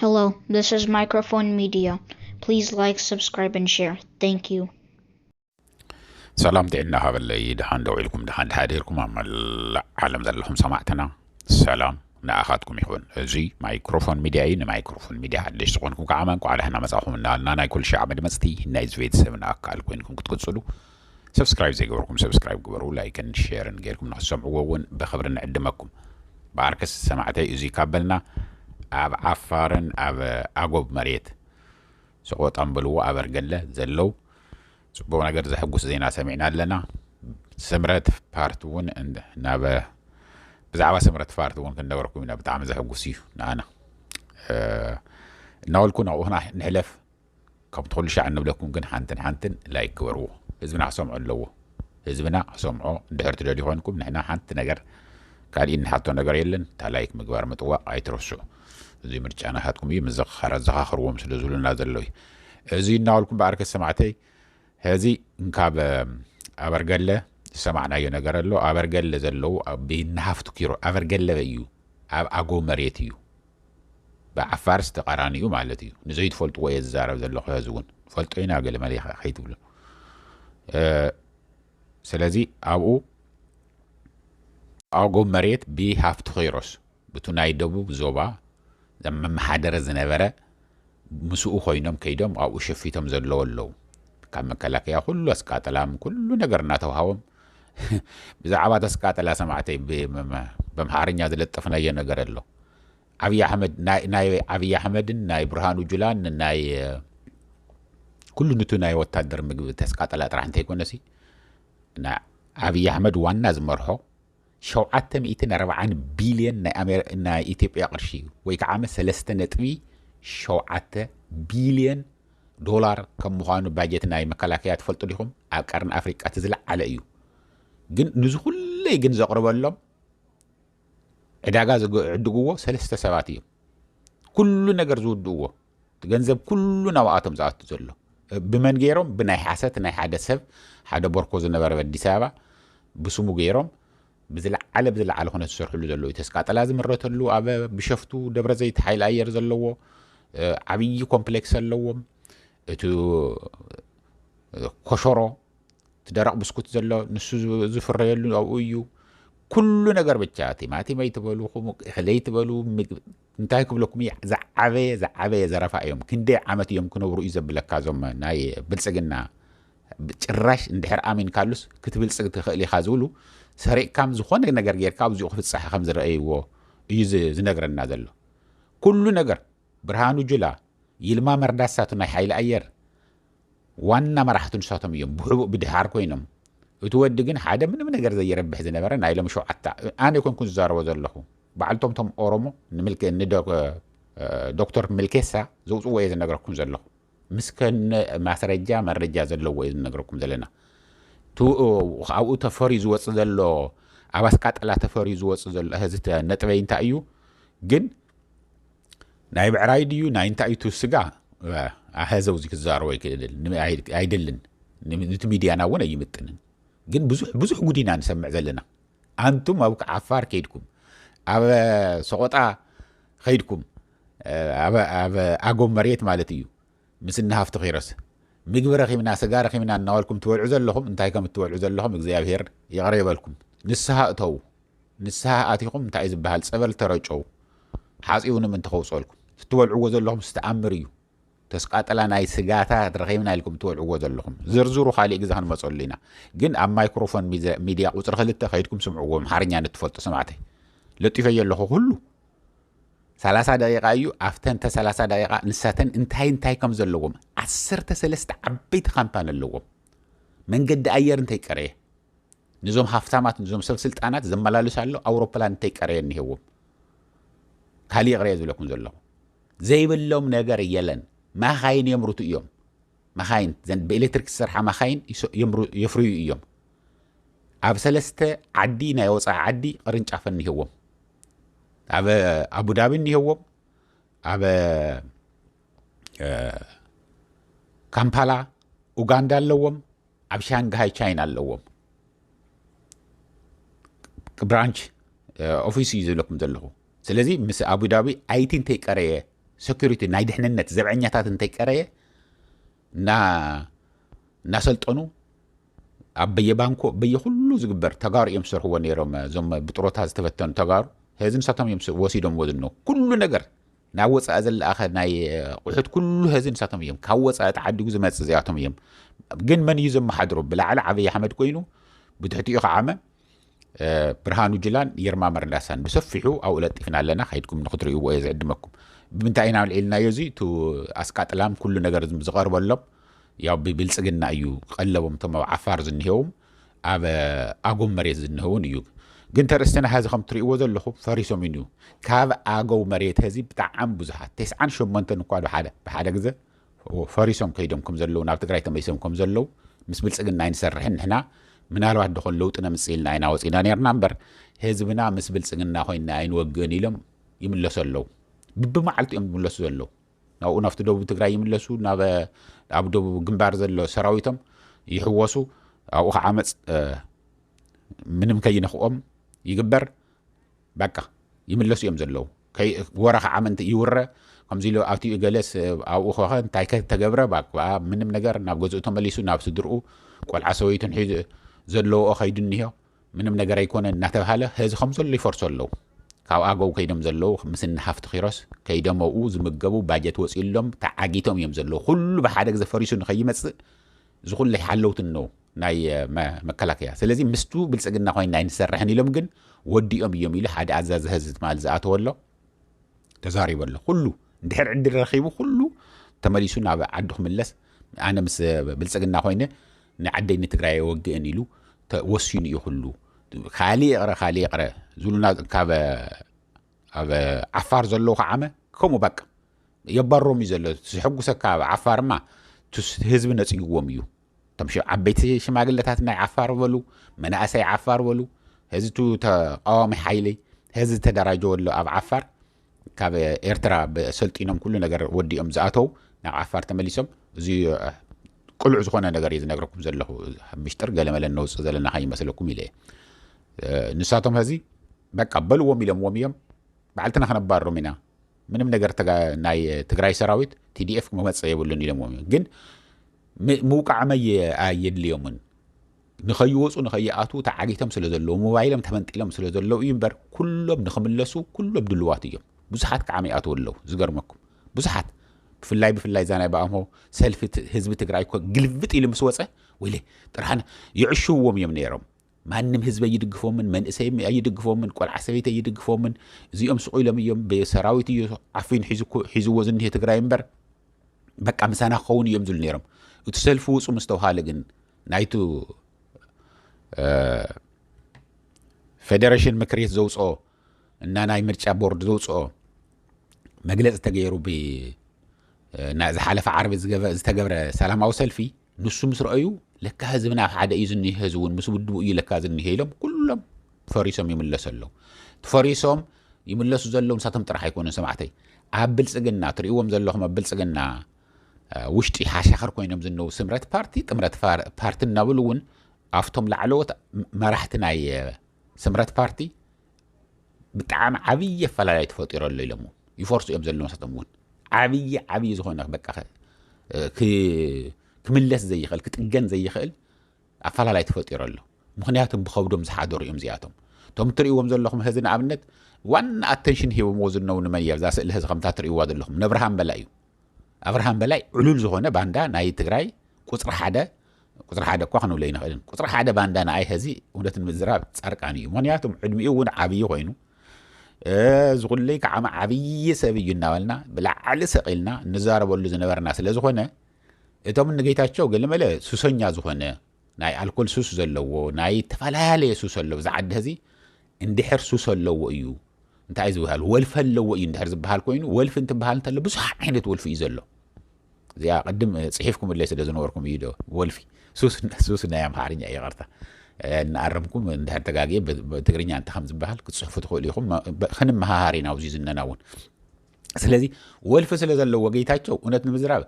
Hello, this is Microphone Media. Please like, subscribe, and share. Thank you. ሰላም ጥዕና ሃበለይ ድሓን ደው ኢልኩም ድሓን ድሓዲርኩም ኣብ መላእ ዓለም ዘለኹም ሰማዕትና ሰላም ንኣኻትኩም ይኹን እዚ ማይክሮፎን ሚድያ እዩ ንማይክሮፎን ሚድያ ሓደሽ ዝኾንኩም ከዓ መንቋዕ ዳሕና መፃኹም እናበልና ናይ ኩሉ ሻዕ መድመፅቲ ናይዚ ቤተሰብና ኣካል ኮይንኩም ክትቅፅሉ ሰብስክራይብ ዘይገበርኩም ሰብስክራይብ ግበሩ፣ ላይክን ሼርን ጌርኩም ንኽትሰምዕዎ እውን ብኽብሪ ንዕድመኩም። ብኣርከስ ሰማዕተይ እዙይ ካብ በልና ኣብ ዓፋርን ኣብ ኣጎብ መሬት ሰቖጣን በልዎ ኣበርገለ ዘለው ፅቡቕ ነገር ዘሕጉስ ዜና ሰሚዕና ኣለና። ስምረት ፓርቲ እውን ናብ ብዛዕባ ስምረት ፓርቲ እውን ክንነገርኩም ኢና። ብጣዕሚ ዘሕጉስ እዩ ንኣና እናበልኩ ናብኡና ንሕለፍ። ካብቲ ኩሉ ሻዕ እንብለኩም ግን ሓንትን ሓንትን ላይክ ግበርዎ ህዝብና ክሰምዖ ኣለዎ ህዝብና ክሰምዖ እንድሕር ትደልዩ ኮንኩም ንሕና ሓንቲ ነገር ካልእ ንሓቶ ነገር የለን እታ ላይክ ምግባር ምጥዋቕ ኣይትረስዑ እዚ ምርጫ ናታትኩም እዩ ምዝኽኻር ኣዘኻኽርዎም ስለ ዝብሉና ዘሎ እዩ እዚ እናበልኩም በኣርከ ሰማዕተይ ሕዚ እንካብ ኣበርገለ ዝሰማዕናዮ ነገር ኣሎ ኣበርገለ ዘለዉ ብናሃፍቱ ኪሮ ኣበርገለ እዩ ኣብ ኣጎ መሬት እዩ ብዓፋርስ ተቃራኒኡ ማለት እዩ ንዘይትፈልጥዎ እየ ዝዛረብ ዘለኹ ሐዚ እውን ንፈልጦ ኢና ገለ መለ ከይትብሉ ስለዚ ኣብኡ ኣጎብ መሬት ብሃፍቲ ኪሮስ ብቱ ናይ ደቡብ ዞባ ዘመመሓደረ ዝነበረ ምስኡ ኮይኖም ከይዶም ኣብኡ ሸፊቶም ዘለዎ ኣለው ካብ መከላከያ ኩሉ ኣስቃጥላም ኩሉ ነገር እናተውሃቦም ብዛዕባ ተስቃጥላ ሰማዕተይ በምሓርኛ ዝለጠፍናዮ ነገር ኣሎ ዓብይ ኣሕመድ ናይ ዓብይ ኣሕመድን ናይ ብርሃኑ ጁላን ናይ ኩሉ ንቱ ናይ ወታደር ምግቢ ተስቃጥላ ጥራሕ እንተይኮነሲ ናይ ዓብይ ኣሕመድ ዋና ዝመርሖ ሸውዓተ ሚእትን ኣርባዓን ቢልየን ናይ ኢትዮጵያ ቅርሺ እዩ ወይ ከዓመ ሰለስተ ነጥቢ ሸውዓተ ቢልየን ዶላር ከም ምዃኑ ባጀት ናይ መከላከያ ትፈልጡ ዲኹም ኣብ ቀርኒ ኣፍሪቃ እቲ ዝለዓለ እዩ ግን ንዚ ኩለይ ግን ዘቕርበሎም ዕዳጋ ዝዕድግዎ ሰለስተ ሰባት እዮም ኩሉ ነገር ዝውድእዎ እቲ ገንዘብ ኩሉ ናብኣቶም ዝኣቱ ዘሎ ብመን ገይሮም ብናይ ሓሰት ናይ ሓደ ሰብ ሓደ ቦርኮ ዝነበረ ኣብ ኣዲስ ኣበባ ብስሙ ገይሮም ብዝለዓለ ብዝለዓለ ኩነት ዝሰርሕሉ ዘለዉ እዩ ተስቃጠላ ዝምረተሉ ኣብ ብሸፍቱ ደብረ ዘይት ሓይሊ ኣየር ዘለዎ ዓብዪ ኮምፕሌክስ ኣለዎም እቲ ኮሸሮ እቲ ደረቕ ብስኩት ዘሎ ንሱ ዝፍረየሉ ኣብኡ እዩ ኩሉ ነገር ብቻ ቲማቲመይ ትበሉ ክለይ ትበሉ እንታይ ክብለኩም እየ ዝዓበየ ዝዓበየ ዘረፋ እዮም ክንደይ ዓመት እዮም ክነብሩ እዩ ዘብለካ ዞም ናይ ብልጽግና ጭራሽ እንድሕር ኣሚንካሉስ ክትብልጽግ ትኽእል ኢኻ ዝብሉ ሰሪቕካም ዝኾነ ነገር ጌርካ ኣብዚኡ ክፍጸሐ ከም ዝረኣይዎ እዩ ዝነግረና ዘሎ ኩሉ ነገር ብርሃኑ ጁላ ይልማ መርዳሳቱ ናይ ሓይሊ ኣየር ዋና መራሕቱ ንሳቶም እዮም ብሕቡእ ብድሓር ኮይኖም እቲ ወዲ ግን ሓደ ምንም ነገር ዘይረብሕ ዝነበረ ናይ ሎም ሸውዓተ ኣነ ኣይኮንኩን ዝዛረቦ ዘለኹ ባዕልቶም ቶም ኦሮሞ ዶክተር ምልኬሳ ዘውፅዎ እየ ዝነግረኩም ዘለኹ ምስ ከነ ማስረጃ መረጃ ዘለዎ እዩ ዝነግረኩም ዘለና ኣብኡ ተፈርዩ ዝወፅ ዘሎ ኣብ ኣስቃጠላ ተፈርዩ ዝወፅ ዘሎ ህዚ ነጥበይ እንታይ እዩ ግን ናይ ብዕራይ ድዩ ናይ እንታይ እዩ ስጋ ኣሀ ዘውዚ ክዛረቦ ኣይክእልን ኣይደልን ንቲ ሚድያና እውን ኣይምጥንን ግን ብዙሕ ብዙሕ ጉድ ኢና ንሰምዕ ዘለና ኣንቱም ኣብ ዓፋር ከይድኩም ኣብ ሰቆጣ ከይድኩም ኣብ ኣጎብ መሬት ማለት እዩ ምስ እኒ ሃፍቱ ኪሮስ ምግቢ ረኺብና ስጋ ረኺብና እናበልኩም ትበልዑ ዘለኹም እንታይ ከም እትበልዑ ዘለኹም እግዚኣብሄር ይቕረ ይበልኩም ንስሃ እተዉ ንስሃ ኣቲኹም እንታይ እዩ ዝበሃል ጸበል ተረጨዉ ሓጺቡ ንምንቲ ከውጽኦልኩም እትበልዕዎ ዘለኹም ስተኣምር እዩ ተስቃጥላ ናይ ስጋታት ረኺብና ኢልኩም እትበልዕዎ ዘለኹም ዝርዝሩ ካሊእ ግዜ ክንመጸሉ ኢና ግን ኣብ ማይክሮፎን ሚድያ ቁጽሪ ክልተ ከይድኩም ስምዕዎ ኣምሓርኛ ንትፈልጡ ሰማዕተይ ለጢፈዮ ኣለኹ ኩሉ ሰላሳ ደቂቃ እዩ ኣብተን ተ ሰላሳ ደቂቃ ንሳተን እንታይ እንታይ ከም ዘለዎም ዓሰርተ ሰለስተ ዓበይቲ ካምፓኒ ኣለዎም መንገዲ ኣየር እንታይ ቀረየ ንዞም ሃፍታማት ንዞም ሰብ ስልጣናት ዘመላልስ ኣሎ ኣውሮፕላን እንታይ ቀረየ እኒሄዎም ካሊእ ይቕረየ ዝብለኩም ዘለኹ ዘይብሎም ነገር የለን ማኻይን የምርቱ እዮም ማኻይን ዘን ብኤሌክትሪክ ዝሰርሓ ማኻይን የፍርዩ እዮም ኣብ ሰለስተ ዓዲ ናይ ወፃኢ ዓዲ ቅርንጫፍ እኒሄዎም ኣብ ኣቡዳቢ እኒሄዎም ኣብ ካምፓላ ኡጋንዳ ኣለዎም ኣብ ሻንግሃይ ቻይና ኣለዎም ብራንች ኦፊስ እዩ ዝብለኩም ዘለኹ ስለዚ ምስ ኣቡዳቢ ኣይቲ እንተይቀረየ ሰኪሪቲ ናይ ድሕንነት ዘብዐኛታት እንተይቀረየ እናሰልጠኑ ኣብ በየባንኮ በየኹሉ ዝግበር ተጋሩ እዮም ዝሰርሕዎ ነይሮም እዞም ብጥሮታ ዝተበተኑ ተጋሩ ሀዚ ንሳቶም እዮም ወሲዶምዎ ዝነው ኩሉ ነገር ናብ ወፃኢ ዘለኣኸ ናይ ቁሑት ኩሉ ሀዚ ንሳቶም እዮም ካብ ወፃኢ ተዓዲጉ ዝመፅእ እዚኣቶም እዮም ግን መን እዩ ዘመሓድሮ ብላዕሊ ዓብይ ኣሕመድ ኮይኑ ብትሕቲኡ ከዓመ ብርሃኑ ጅላን ይርማ መርዳሳን ብሰፊሑ ኣብኡ ለጢፍና ኣለና ከይድኩም ንክትርእይዎ እየ ዝዕድመኩም ብምንታይ ኢና ልዒልናዮ እዚ እቲ ኣስቃጥላም ኩሉ ነገር ዝቐርበሎም ያው ብብልፅግና እዩ ቀለቦም እቶም ኣብ ዓፋር ዝኒሄውም ኣብ ኣጎም መሬት ዝኒሄውን እዩ ግን ተርእስትና ሀዚ ከም ትርእይዎ ዘለኹም ፈሪሶም እዩ ካብ ኣገው መሬት ሀዚ ብጣዕሚ ብዙሓት ቴስዓን ሸሞንተን እኳ ብሓደ ብሓደ ግዘ ፈሪሶም ከይዶም ከም ዘለዉ ናብ ትግራይ ተመሊሶም ከም ዘለዉ ምስ ብልፅግና ኣይንሰርሕን ንሕና ምናልባት ዶኸን ለውጢ ነምፅእ ኢልና ኢና ወፂና ነርና እምበር ህዝብና ምስ ብልፅግና ኮይና ኣይንወግእን ኢሎም ይምለሱ ኣለዉ ብብመዓልቲ እዮም ዝምለሱ ዘለዉ ናብኡ ናብቲ ደቡብ ትግራይ ይምለሱ ናብ ኣብ ደቡብ ግንባር ዘሎ ሰራዊቶም ይሕወሱ ኣብኡ ከዓመፅ ምንም ከይነኽኦም ይግበር በቃ ይምለሱ እዮም ዘለዉ ወረ ከዓ ምንት ይውረ ከምዚ ኢሉ ኣትዩ እገለስ ኣብኡ ከኸ እንታይ ከ ተገብረ ባክዓ ምንም ነገር ናብ ገዝኡ ተመሊሱ ናብ ስድርኡ ቆልዓ ሰበይቱን ሒዙ ዘለዎኦ ከይዱ እኒሆ ምንም ነገር ኣይኮነ እናተባሃለ ህዚ ከም ዘሎ ይፈርሶ ኣለዉ ካብ ኣገው ከይዶም ዘለዉ ምስ እኒ ሃፍቲ ኪሮስ ከይዶም ኣብኡ ዝምገቡ ባጀት ወፂኡሎም ተዓጊቶም እዮም ዘለዉ ኩሉ ብሓደ ግዜ ፈሪሱ ንኸይመፅእ እዚ ኩሉ ሓለውቲ እነዉ ናይ መከላከያ ስለዚ ምስቱ ብልፅግና ኮይና ኣይንሰርሕን ኢሎም ግን ወዲኦም እዮም ኢሉ ሓደ ኣዛዚ ህዝቢ ትማል ዝኣተወ ኣሎ ተዛሪቡ ኣሎ ኩሉ እንድሕር ዕድል ረኺቡ ኩሉ ተመሊሱ ናብ ዓዱ ክምለስ ኣነ ምስ ብልፅግና ኮይነ ንዓደይ ንትግራይ የወግእን ኢሉ ወሲኑ እዩ ኩሉ ካልእ ይቕረ ካልእ ይቕረ ዝብሉና ካብ ኣብ ዓፋር ዘለዉ ከዓመ ከምኡ በቃ የባሮም እዩ ዘሎ ዝሕጉሰካ ኣብ ዓፋርማ ህዝቢ ነፅግዎም እዩ እቶም ሽዑ ዓበይቲ ሽማግለታት ናይ ዓፋር በሉ መናእሰይ ዓፋር በሉ ህዝቱ ተቃዋሚ ሓይሊ ህዚ ተደራጀወሉ ኣብ ዓፋር ካብ ኤርትራ ሰልጢኖም ኩሉ ነገር ወዲኦም ዝኣተው ናብ ዓፋር ተመሊሶም እዚ ቅሉዕ ዝኾነ ነገር እዩ ዝነግረኩም ዘለኹ ምሽጥር ገለመለ ነውፅእ ዘለና ከይመስለኩም ኢለ ንሳቶም ህዚ በቃ በልዎም ኢሎምዎም እዮም በዓልትና ከነባርሮም ኢና ምንም ነገር ናይ ትግራይ ሰራዊት ቲዲኤፍ ክመፀ የብሉን ኢሎምዎም እዮም ግን ምውቃዕም ኣየድልዮምን ንኸይወፁ ንኸይኣትዉ ተዓጊቶም ስለ ዘለዉ ሞባይሎም ተመንጢሎም ስለ ዘለዉ እዩ እምበር ኩሎም ንኽምለሱ ኩሎም ድልዋት እዮም ብዙሓት ከዓ ይኣትዉ ኣለዉ ዝገርመኩም ብዙሓት ብፍላይ ብፍላይ እዛ ናይ ብኣምሆ ሰልፊ ህዝቢ ትግራይ እኮ ግልብጥ ኢሉ ምስ ወፀ ወይለ ጥርሓን ይዕሽውዎም እዮም ነይሮም ማንም ህዝቢ ኣይድግፎምን፣ መንእሰይ ኣይድግፎምን፣ ቆልዓ ሰበይቲ ኣይድግፎምን። እዚኦም ስቑ ኢሎም እዮም፣ ሰራዊት እዩ ዓፊኑ ሒዝዎ ዝኒሄ ትግራይ እምበር በቃ ምሳና ክኸውን እዮም ዝብሉ ነይሮም። እቲ ሰልፊ ውፁ ምስ ተውሃለ ግን ናይቱ ፌደሬሽን ምክር ቤት ዘውፅኦ እና ናይ ምርጫ ቦርድ ዘውፅኦ መግለፂ ተገይሩ ዝሓለፈ ዓርቢ ዝተገብረ ሰላማዊ ሰልፊ ንሱ ምስ ረኣዩ ለካ ህዝብና ሓደ እዩ ዝኒሀ ህዝቢ እውን ምስ ውድቡ እዩ ለካ ዝኒሀ ኢሎም ኩሎም ፈሪሶም ይምለሱ ኣለዉ እቲ ፈሪሶም ይምለሱ ዘለዉ ንሳቶም ጥራሕ ኣይኮኑን ሰማዕተይ ኣብ ብልፅግና ትርእዎም ዘለኹም ኣብ ብልፅግና ውሽጢ ሓሻኽር ኮይኖም ዝነው ስምረት ፓርቲ ጥምረት ፓርቲ እናብሉ እውን ኣብቶም ላዕለዎት መራሕቲ ናይ ስምረት ፓርቲ ብጣዕሚ ዓብዪ ኣፈላላይ ተፈጢሮ ኣሎ ኢሎም እውን ይፈርሱ እዮም ዘለዉ ንሳቶም እውን ዓብዪ ዓብዪ ዝኾነ በቃ ክምለስ ዘይኽእል ክጥገን ዘይኽእል ኣፈላላይ ተፈጢሮ ኣሎ ምክንያቱም ብከብዶም ዝሓደሩ እዮም እዚኣቶም እቶም እትርእይዎም ዘለኹም ህዚ ንኣብነት ዋና ኣተንሽን ሂቦምዎ ዝነው ንመን እያ እዛ ስእሊ ህዚ ከምታ ትርእይዋ ዘለኹም ነብርሃን በላ እዩ ኣብርሃም በላይ ዕሉል ዝኾነ ባንዳ ናይ ትግራይ ቁፅሪ ሓደ ቁፅሪ ሓደ እኳ ክንብሎ ኣይንኽእልን ቁፅሪ ሓደ ባንዳ ንኣይ ሀዚ እውነት ንምዝራብ ፃርቃን እዩ ምክንያቱም ዕድሚኡ እውን ዓብዪ ኮይኑ ዝኹለይ ከዓመ ዓብዪ ሰብ እዩ እናበልና ብላዕሊ ሰቂልና እንዛረበሉ ዝነበርና ስለ ዝኾነ እቶም ንጌታቸው ገለመለ ሱሰኛ ዝኾነ ናይ ኣልኮል ሱስ ዘለዎ ናይ ተፈላለየ ሱስ ኣለዎ እዚ ዓዲ ሀዚ እንድሕር ሱስ ኣለዎ እዩ እንታይ እዩ ዝበሃል ወልፊ ኣለዎ እዩ እንድሕር ዝበሃል ኮይኑ ወልፊ እንትበሃል እንተሎ ብዙሕ ዓይነት ወልፊ እዩ ዘሎ እዚኣ ቅድም ፅሒፍኩምለይ ስለ ዝነበርኩም እዩ ዶ ወልፊ ሱስ ናይ ኣምሓርኛ እዩ ይቐርታ እናኣረምኩም እንድሕር ተጋግየ ትግርኛ እንተ ከም ዝበሃል ክትፅሕፉ ትኽእሉ ኢኹም ክንመሃሃር ኢና ኣብዚ ዝነና እውን ስለዚ ወልፊ ስለ ዘለዎ ጌታቸው እውነት ንምዝራብ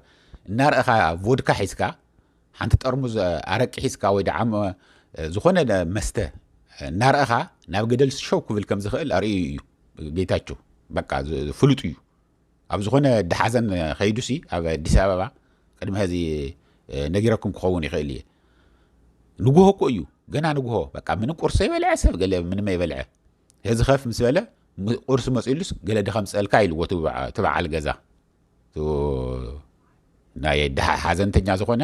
እናርእኻ ቮድካ ሒዝካ ሓንቲ ጠርሙዝ ኣረቂ ሒዝካ ወይ ደዓ ዝኾነ መስተ እናረእኻ ናብ ገደል ሸው ክብል ከም ዝኽእል ኣርእዩ እዩ ጌታቸው በቃ ፍሉጥ እዩ ኣብ ዝኾነ ደሓዘን ከይዱሲ ኣብ ኣዲስ ኣበባ ቅድሚ ሕዚ ነጊረኩም ክኸውን ይኽእል እየ ንጉሆ እኮ እዩ ገና ንጉሆ በቃ ምንም ቁርሲ ይበልዐ ሰብ ገለ ምንም ይበልዐ እዚ ከፍ ምስ በለ ቁርሲ መፅሉስ ገለ ድኸምፀልካ ኢልዎ ትበዓል ገዛ ናይ ድሃ ሓዘንተኛ ዝኾነ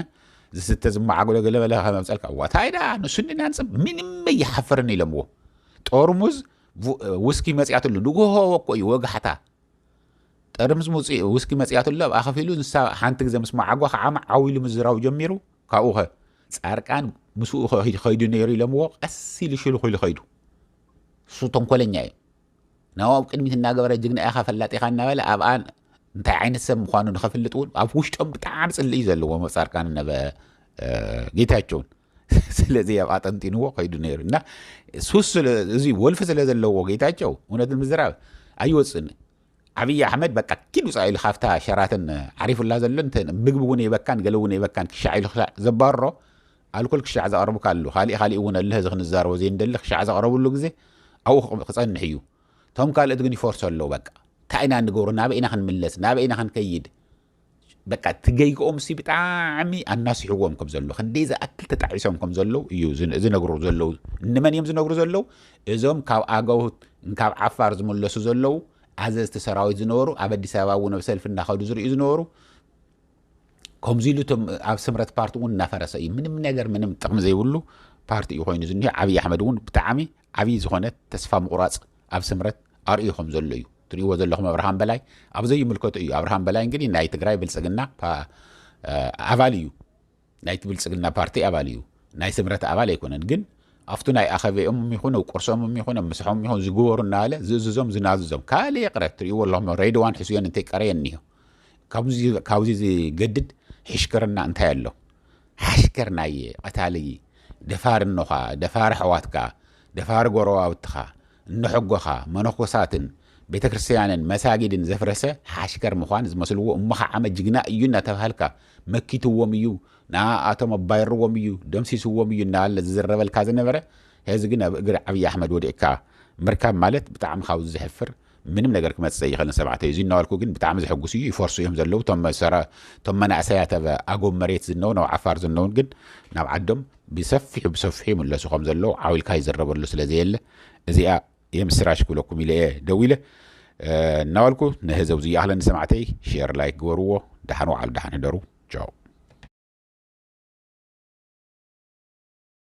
ዝስተ ዝመዓግሎ ገለመለ ከመምፀልካ ዋታይ ዳ ንሱ ንናንፅ ምንም እይሓፍርን ኢለምዎ ጠርሙዝ ውስኪ መፅያትሉ ንጉሆ ወኮ እዩ ወጋሕታ ጠርሙዝ ውስኪ መፅያትሉ ኣብ ኣኸፊሉ ንሳ ሓንቲ ግዜ ምስ መዓጓ ከዓማ ዓው ኢሉ ምዝራው ጀሚሩ ካብኡ ኸ ፃርቃን ምስኡ ከይዱ ነይሩ ኢለምዎ ቀስ ኢሉ ሽልኹ ኢሉ ከይዱ እሱ ተንኮለኛ እዩ ናብኡ ኣብ ቅድሚት እናገበረ ጅግና ኢኻ ፈላጥ ኢኻ እናበለ ኣብኣ እንታይ ዓይነት ሰብ ምዃኑ ንኸፍልጥ እውን ኣብ ውሽጦም ብጣዕሚ ፅልኢ እዩ ዘለዎ ኣብ ፃድቃንን ኣብ ጌታቸውን ስለዚ ኣብ ኣጠንጢንዎ ከይዱ ነይሩ እና ሱስ እዚ ወልፊ ስለ ዘለዎ ጌታቸው እውነት ንምዝራብ ኣይወፅእን ዓብዪ ኣሕመድ በቃ ኪድ ውፃእ ኢሉ ካብታ ሸራተን ዓሪፉላ ዘሎ ምግቢ እውን የበካን ገለ እውን የበካን ክሻዕ ኢሉ ክሻዕ ዘባርሮ ኣልኮል ክሻዕ ዘቕርብካ ኣሉ ካሊእ ካሊእ እውን ኣለ እዚ ክንዛረቦ ዘይንደሊ ክሻዕ ዘቕረብሉ ግዜ ኣብኡ ክጸንሕ እዩ ቶም ካልእት ግን ይፈርሶ ኣለዉ በቃ እንታይ ኢና ንገብሮ ናበይ ኢና ክንምለስ ናበይ ኢና ክንከይድ በቃ እቲ ገይግኦም ሲ ብጣዕሚ ኣናሲሕዎም ከም ዘለዉ ክንደይ ዝኣክል ተጣዒሶም ከም ዘለዉ እዩ ዝነግሩ ዘለዉ ንመን እዮም ዝነግሩ ዘለዉ እዞም ካብ ኣገው ካብ ዓፋር ዝምለሱ ዘለዉ ኣዘዝቲ ሰራዊት ዝነበሩ ኣብ ኣዲስ ኣበባ እውን ኣብ ሰልፊ እናኸዱ ዝርእዩ ዝነበሩ ከምዚ ኢሉ እቶም ኣብ ስምረት ፓርቲ እውን እናፈረሰ እዩ ምንም ነገር ምንም ጥቕሚ ዘይብሉ ፓርቲ እዩ ኮይኑ ዝኒሆ ዓብዪ ኣሕመድ እውን ብጣዕሚ ዓብዪ ዝኾነ ተስፋ ምቑራፅ ኣብ ስምረት ኣርእዩ ከም ዘሎ እዩ ትርእይዎ ዘለኹም ኣብርሃም በላይ ኣብ ዘይምልከቱ እዩ ኣብርሃም በላይ እንግዲህ ናይ ትግራይ ብልፅግና ኣባል እዩ ናይቲ ብልፅግና ፓርቲ ኣባል እዩ ናይ ስምረት ኣባል ኣይኮነን ግን ኣብቲ ናይ ኣኸበኦም ይኹን ኣብ ቁርሶም ይኹን ኣብ ምሳሖም ይኹን ዝግበሩ እናበለ ዝእዝዞም ዝናዝዞም ካልእ ይቕረ ትርእይዎ ኣለኹም ሬድዋን ሕስዮን እንተይቀረየ እኒሆ ካብዚ ዝገድድ ሕሽክርና እንታይ ኣሎ ሓሽከር ናየ ቐታሊ ደፋር እኖኻ ደፋር ኣሕዋትካ ደፋር ጎረባብትኻ እኖሐጎኻ መነኮሳትን ቤተክርስትያንን መሳጊድን ዘፍረሰ ሓሽከር ምዃን ዝመስልዎ እሞኸዓመ ጅግና እዩ እናተብሃልካ መኪትዎም እዩ ንኣኣቶም ኣባይርዎም እዩ ደምሲስዎም እዩ እናበለ ዝዝረበልካ ዝነበረ ሐዚ ግን ኣብ እግሪ ዓብዪ ኣሕመድ ወዲቕካ ምርካብ ማለት ብጣዕሚ ካብዚ ዘሕፍር ምንም ነገር ክመጽእ ዘይኸልን ሰባተ እዩ እዚ እናበልኩ ግን ብጣዕሚ ዘሐጉስ እዩ ይፈርሱ እዮም ዘለዉ ቶም ሰራ ቶም መናእሰያት ኣብ ኣጎብ መሬት ዝነውን ኣብ ዓፋር ዝነውን ግን ናብ ዓዶም ብሰፊሑ ብሰፊሑ ይምለሱ ከም ዘለዉ ዓዊልካ ይዝረበሉ ስለ ዘየለ እዚኣ የምስራሽ ክብለኩም ኢለ እየ ደው ኢለ እናበልኩ ንህዘብ ዝይኣኽለኒ ሰማዕተይ ሼር ላይክ ግበርዎ ደሓን ወዓሉ ደሓን ህደሩ ቻው